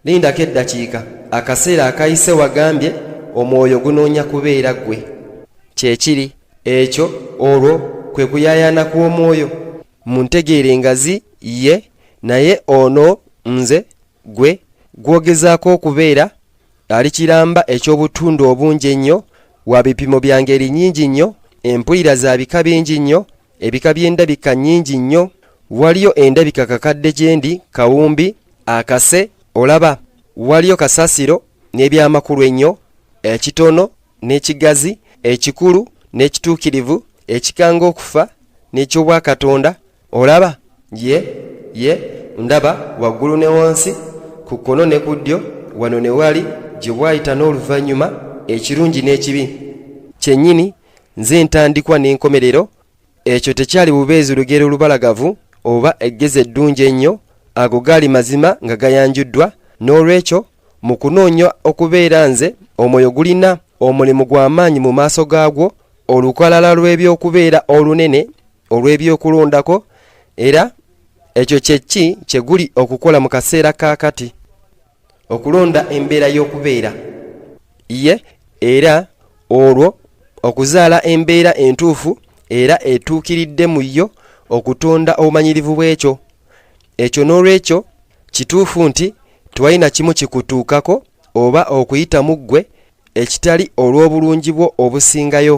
lindako eddakiika akaseera akayise wagambye omwoyo gunoonya kubeera ggwe kyekiri ekyo olwo kwe kuyayana kw'omwoyo muntegeera engazi ye naye ono nze gwe gwogezaako okubeera ali kiramba eky'obutundu obungi ennyo wa bipimo bya ngeri nnyingi nnyo empulira za bika bingi nnyo Ebika by'endabika nnyingi nnyo. Waliyo endabika kakadde gyendi, kawumbi, akase, olaba. Waliyo kasasiro n'ebyamakulu ennyo, ekitono n'ekigazi, ekikulu n'ekituukirivu, ekikanga okufa n'eky'obwakatonda, olaba. Ye, ye, ndaba, waggulu ne wansi, ku kkono ne ku ddyo, wano ne wali, gye bwayita n'oluvannyuma, ekirungi n'ekibi. Kyennyini. nze ntandikwa n'enkomerero ekyo tekyali bubeezi lugero lubalagavu oba eggezi eddungi ennyo ago gaali mazima nga gayanjuddwa n'olwekyo mu kunoonya okubeera nze omwoyo gulina omulimu gw'amaanyi mu maaso gaagwo olukalala lw'ebyokubeera olunene olw'ebyokulondako era ekyo kyekki kye guli okukola mu kaseera ka kati okulonda embeera y'okubeera ye era olwo okuzaala embeera entuufu era etuukiridde mu yo okutonda obumanyirivu bw'ekyo ekyo n'olwekyo kituufu nti tewali na kimu kikutuukako oba okuyita mu ggwe ekitali olw'obulungi bwo obusingayo